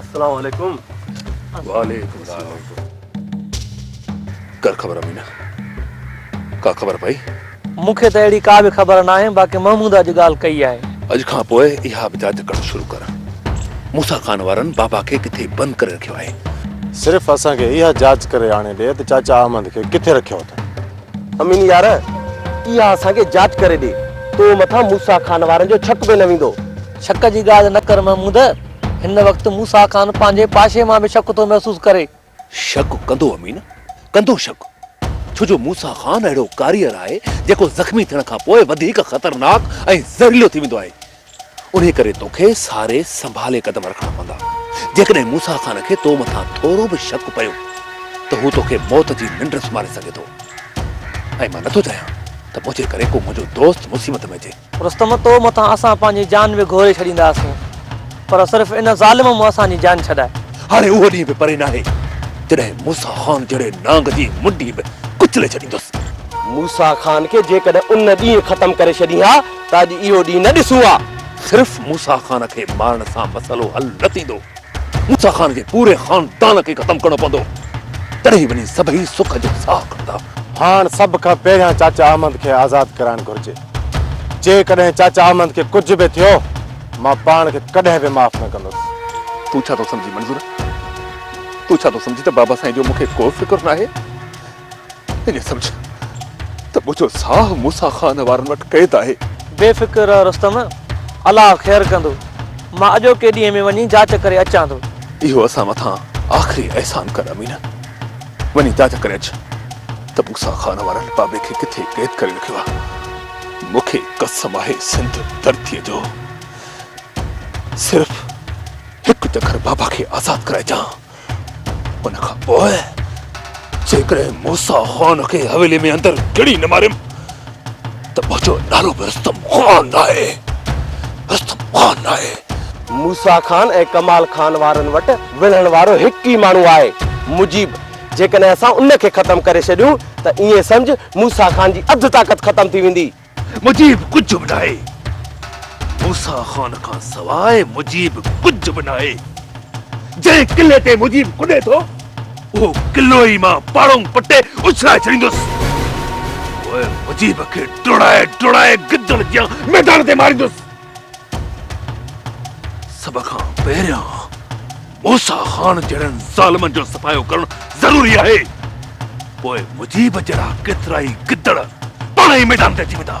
السلام عليڪم وعليڪم السلام ڪر خبر امينه ڪا خبر پئي مون کي ته اهڙي ڪا به خبر ناهي باقي محمود اڄ ڳالهه ڪئي آهي اڄ کان پوء اها به جاچ ڪرڻ شروع ڪر موسا خان وارن بابا کي ڪٿي بند ڪري رکيو آهي صرف اسان کي اها جاچ ڪري آڻي ڏي ته چاچا احمد کي ڪٿي رکيو اٿن امين يار اها اسان کي جاچ ڪري ڏي تو مٿان موسيٰ خان وارن جو شڪ به نه ويندو. شڪ جي ڳالهه نه ڪر محمود، هن وقت موسيٰ خان پنهنجي پاشي مان به شڪ ٿو محسوس ڪري. شڪ ڪندو امين، ڪندو شڪ، ڇو جو موسيٰ خان اهڙو ڪاريئر آهي جيڪو زخمي ٿيڻ کان پوء وڌيڪ خطرناڪ ۽ زهريلو ٿي ويندو آهي. انهيء ڪري تو کي ساري سنڀالي قدم رکڻا پوندا. جيڪڏهن موسيٰ خان کي تو مٿان ٿورو به شڪ پيو ته هو تو کي موت جي ننڊ سمهاري سگهي ٿو ۽ مان نٿو چاهيان ته منهنجي ڪري ڪو منهنجو دوست مصيبت ۾ اچي. رستم، تو مٿان اسان پنهنجي جان به گهوري ڇڏينداسون، پر صرف ان ظالم مون اسان جي جان ڇڏائي. هاڻي اهو ڏينهن به پري ناهي، جڏهن موسيٰ خان جهڙي نانگ جي منڍي به ڪچلي ڇڏيندس. موسيٰ خان کي جيڪڏهن ان ڏينهن ختم ڪري ڇڏين ها ته اڄ اهو ڏينهن نه ڏسون ها. صرف موسيٰ خان کي مارڻ سان مسئلو حل نه ٿيندو. موسيٰ خان جي پوري خاندان کي ختم ڪرڻو پوندو. تڏهن وڃي سڀئي سک جو ساهه کڻندا. هاڻ سڀ کان پهريان چاچا احمد کي آزاد ڪرائڻ گهرجي. جيڪڏهن چاچا احمد کي ڪجهه به ٿيو، مان پاڻ کي ڪڏهن به معاف نه ڪندس. تون ڇا ٿو سمجهين منظور؟ تون ڇا ٿو سمجهين ته بابا سائين جو مون کي ڪو فڪر ناهي؟ ايئن سمجهه ته منهنجو ساهه موسيٰ خان وارن وٽ قيد آهي. بي فڪر رهه رستم، الله خير ڪندو. مان اڄوڪي ڏينهن ۾ وڃي جاچ ڪري اچان ٿو. اهو اسان مٿان آخري احسان ڪر امين. وڃي جاچ ڪري اچ ته موسيٰ خان وارن بابي کي ڪٿي قيد ڪري رکيو آهي. مون کي قسم آهي سنڌ ڌرتيء جو صرف هڪ چڪر بابا کي آزاد ڪرائجان. ان کان پوء جيڪڏهن موسا خان کي حويلي ۾ اندر ڪڙي نه ماريم ته منهنجو نالو به رستم خان ناهي رستم خان ناهي موسا خان ۽ ڪمال خان وارن وٽ وڙهڻ وارو هڪ ئي ماڻهو آهي مجيب جيڪڏهن اسان ان کي ختم ڪري ڇڏيون ته ائين سمجهه موسا خان جي اڌ طاقت ختم ٿي ويندي. مجيب ڪجهه به ناهي. موسيٰ خان کان سواء مجيب ڪجهه به ناهي. جنهن قلعي تي مجيب ڪڏي ٿو، اهو قلعو ئي مان پاڙونگ پٽي اڇلائي ڇڏيندس. پوء مجيب کي ڊوڙائي ڊوڙائي گدڙ جيان ميدان تي ماريندس. سڀ کان پهريان موسيٰ خان جهڙن ظالمن جو صفايو ڪرڻ ضروري آهي پوء مجيب جهڙا ڪيترائي گدڙ پاڻ ئي ميدان تي اچي ويندا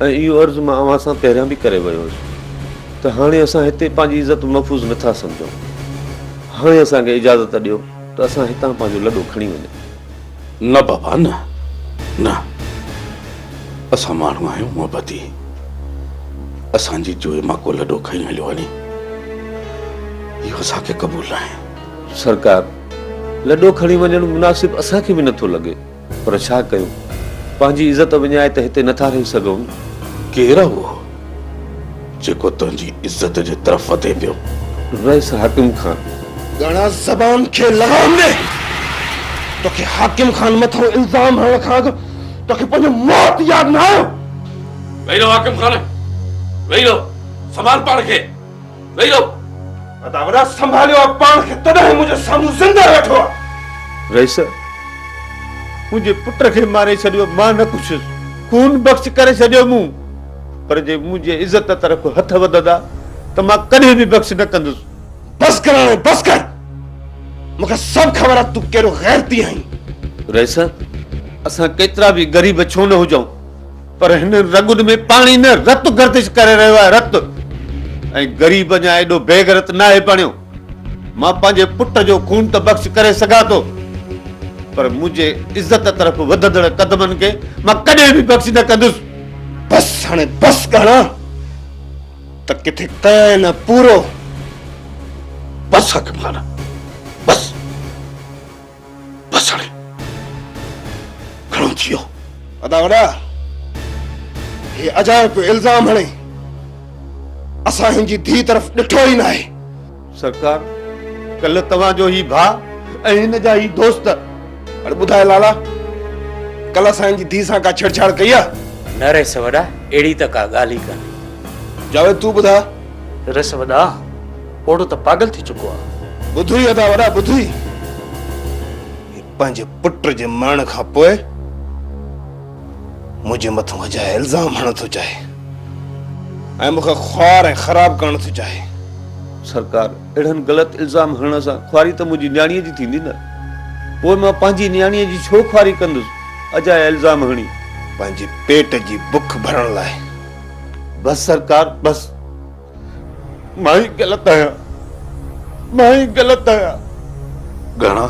۽ اهو عرض مان اوهان سان پهريان به ڪري ويو هيس ته هاڻي اسان هتي پنهنجي عزت محفوظ نه ٿا سمجهون. هاڻي اسان کي اجازت ڏيو ته اسان هتان پنهنجو لڏو کڻي وڃون. نه بابا نه. نه. اسان ماڻهو آهيون محبتي. اسان جي جوئي مان ڪو لڏو کڻي هليو وڃي. اهو اسان کي قبول ناهي. سرڪار، لڏو کڻي وڃڻ مناسب اسان کي به نه ٿو لڳي. پر ڇا ڪيون؟ پنهنجي عزت وڃائي ته هتي نٿا رهي سگهون. ڪير آ اهو جيڪو تنهنجي عزت جي طرف وڌي پيو؟ رئيس حاڪم خان. ڳڻا زبان کي لغام ڏي. توکي حاڪم خان مٿان الزام هڻڻ کان اڳ توکي پنهنجو موت ياد نه آيو؟ ويهي رهو حاڪم خان، ويهي رهو. سنڀال پاڻ کي. ويو ادا وڏا سنڀاليو آ پاڻ کي تڏهن هي منهنجي سامهون زنده ويٺو آ. رئيس منهنجي پٽ کي ماري ڇڏيو مان نه پڇيس خون بخش ڪري ڇڏيو مون پر جي منهنجي عزت طرف هٿ وڌندا ته مان ڪڏهن به بخش نه ڪندس. بس ڪر هاڻي بس ڪر مون کي سڀ خبر آ تون ڪهڙو غيرتي آهين. رئيس اسان ڪيترا به غريب ڇو نه هجون. پر هن رڳن ۾ پاڻي نه رت گردش ڪري رهيو آهي رت ۽ غريب اڃا ايڏو بيغرت ناهي بڻيو مان پنهنجي پٽ جو خون ته بخش ڪري سگهان ٿو پر منهنجي عزت طرف وڌندڙ قدمن کي مان ڪڏهن به بخش نه ڪندس بس هاڻي بس ڪهاڻا ته ڪٿي ڪيائين نه پورو بس حڪمخانا بس بسڙي گهڻو ٿي ويو. ادا وڏا هي عجائب پيو الزام هڻي اسان هن جي ڌي طرف ڏٺو ئي ناهي. سرڪار ڪلهه توهان جو هي ڀاء ۽ هن جا هي دوست. اڙي ٻڌاء لالا ڪلهه اسان هن جي ڌي سان ڪا ڇيڙڇاڙ ڪئي آ؟ نه رئيس وڏا اهڙي ته ڪا ڳالهه ئي ڪانهي. جاويد تون ٻڌاء. رئيس وڏا. پوڙهو ته پاڳل ٿي چڪو آ. ٻڌوئي ادا وڏا ٻڌوئي هي پنهنجي پٽ جي مرڻ کان پوء منهنجي مٿان اجايا الزام هڻڻ ٿو چاهي ۽ مون کي خوار ۽ خراب ڪرڻ ٿو چاهي. سرڪار اهڙن غلط الزام هڻڻ سان خواري ته منهنجي نياڻيء جي ٿيندي نه پوء مان پنهنجي نياڻيء جي ڇو خواري ڪندس اجايا الزام هڻي. پنهنجي پيٽ جي بک ڀرڻ لاء. بس سرڪار بس. مان ئي غلط آهيان مان ئي غلط آهيان. گهڻا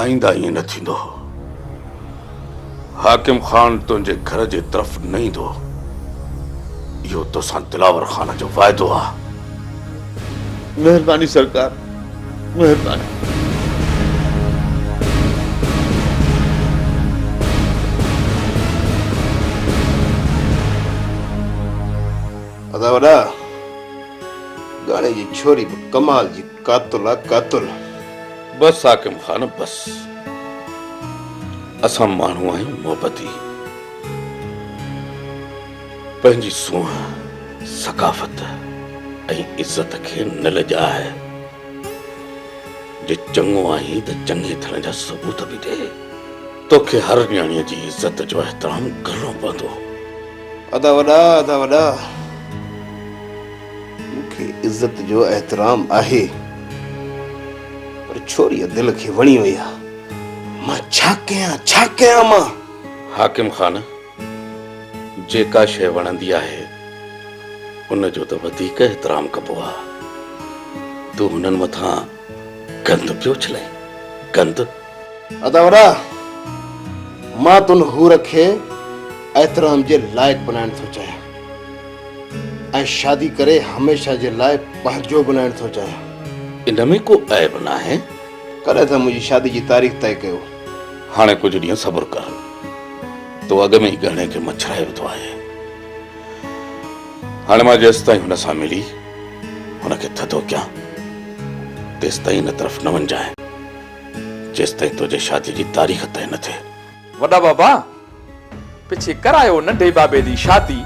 آئنده ائين نه ٿيندو حاڪم خان تنهنجي گهر جي طرف نه ايندو اهو توسان دلاور خان جو وعدو آهي. مهرباني سرڪار مهرباني. ادا وڏا ڳاڙهي جي ڇوري به ڪمال جي قاتل آ قاتل. بس حاڪم خان بس اسان ماڻهو آهيون محبتي. پنهنجي سونهن، ثقافت ۽ عزت کي نه لڄاء. جي چڱو آهين ته چڱي ٿيڻ جا ثبوت به ڏي. توکي هر نياڻيء جي عزت جو احترام ڪرڻو پوندو. ادا وڏا، ادا وڏا، مون کي عزت جو احترام آهي، پر ڇوريء دل کي وڻي وئي آهي. مان ڇا ڪيان، ڇا ڪيان مان؟ حاڪم خان! جيڪا شيء وڻندي آهي ان جو ته وڌيڪ احترام ڪبو آ. تون هنن مٿان گند پيو اڇلين، گند! ادا وڏا، مان تون حور کي احترام جي لائق بنائڻ ٿو چاهيان ۽ شادي ڪري هميشه جي لاء پنهنجو بنائڻ ٿو چاهيان. ان ۾ ڪو عيب ناهي. ڪڏهن ٿا منهنجي شادي جي تاريخ طئي ڪيو؟ هاڻي ڪجهه ڏينهن صبر ڪر. تو اڳ ۾ ئي ڳهڻي کي مڇرائي وڌو آهي. هاڻي مان جيستائين هن سان ملي هن کي ٿڌو ڪيان تيستائين هن طرف نه وڃجانء جيستائين تنهنجي شادي جي تاريخ طئي نه ٿئي. وڏا بابا پڇي ڪرايو ننڍي بابي جي شادي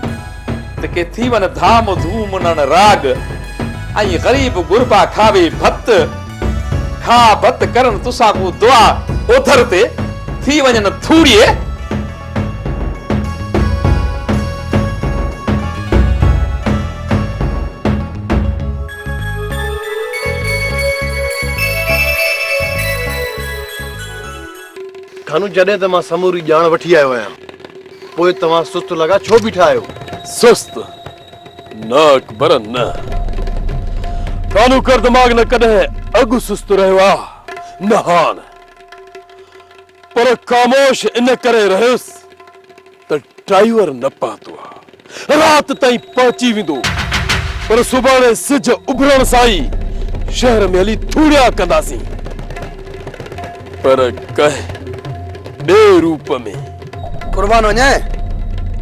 ته ڪي ٿي وڃ ڌام ڌوم انهن راڳ ۽ غريب غربا کاوي ڀت کاء ڀت ڪرن توسان ڪو دعا اوڌر تي ٿي وڃن ٿوڙيي ڪانو، جڏهن ته مان سموري ڄاڻ وٺي آيو آهيان، پوء توهان سست لڳا ڇو بيٺا آهيو؟ سست؟ نه اڪبر نه. ڪانو ڪر دماغ نه ڪڏهن اڳ سست رهيو آ نه هاڻ. پر خاموش ان ڪري رهيس. ته ڊرائيور نه پهتو آ، رات تائين پهچي ويندو، پر سڀاڻي سج اڀرڻ سان ئي شهر ۾ هلي ٿوڙيا ڪنداسين، پر ڪنهن ٻئي روپ ۾. قربان وڃان،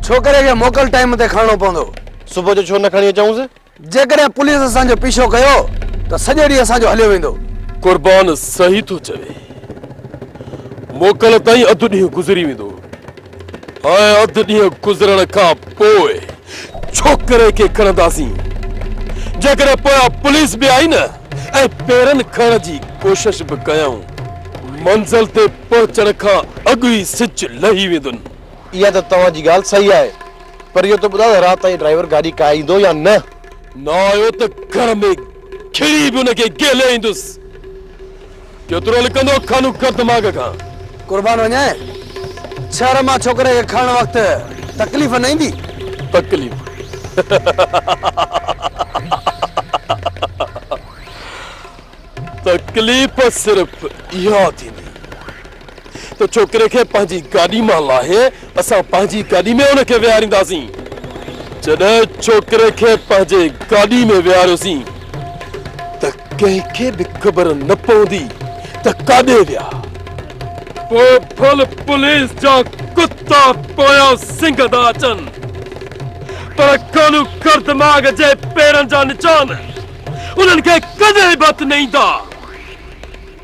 ڇوڪري کي موڪل ٽائيم تي کڻڻو پوندو. صبح جو ڇو نه کڻي اچئونس؟ جيڪڏهن پوليس اسان جو پيڇو ڪيو ته سڄو ڏينهن اسان جو هليو ويندو. قربان صحيح ٿو چوي. موڪل تائين اڌ ڏينهن گذري ويندو ۽ اڌ ڏينهن گذرڻ کان پوء ڇوڪري کي کڻنداسين. جيڪڏهن پويان پوليس به آئي نه ۽ پيرن کڻڻ جي ڪوشش به ڪيائون، منزل تي پهچڻ کان اڳ ئي سج لهي ويندن. اها ته توهان جي ڳالهه صحيح آهي پر اهو ته ٻڌاء ته رات تائين ڊرائيور گاڏي ڪاهيندو يا نه؟ نه آيو ته گهر ۾ کڙي به ان کي گهلي ايندس. ڪيترو لڪندو خانو ڪر دماغ کان. قربان وڃان شهر مان ڇوڪري کي کڻڻ وقت تڪليف نه ايندي؟ تڪليف تڪليف صرف اها ٿيندي. ته ڇوڪري کي پنهنجي گاڏي مان لاهي اسان پنهنجي گاڏي ۾ ان کي ويهارينداسين. جڏهن ڇوڪري کي پنهنجي گاڏي ۾ ويهاريوسين ته ڪنهن کي به خبر نه پوندي ته ڪاڏي ويا. پوء ڦل پوليس جا ڪتا پويان سنگ ٿا اچن پر خانو خردماغ جي پيرن جا نشان انهن کي ڪڏهن به هٿ نه ايندا.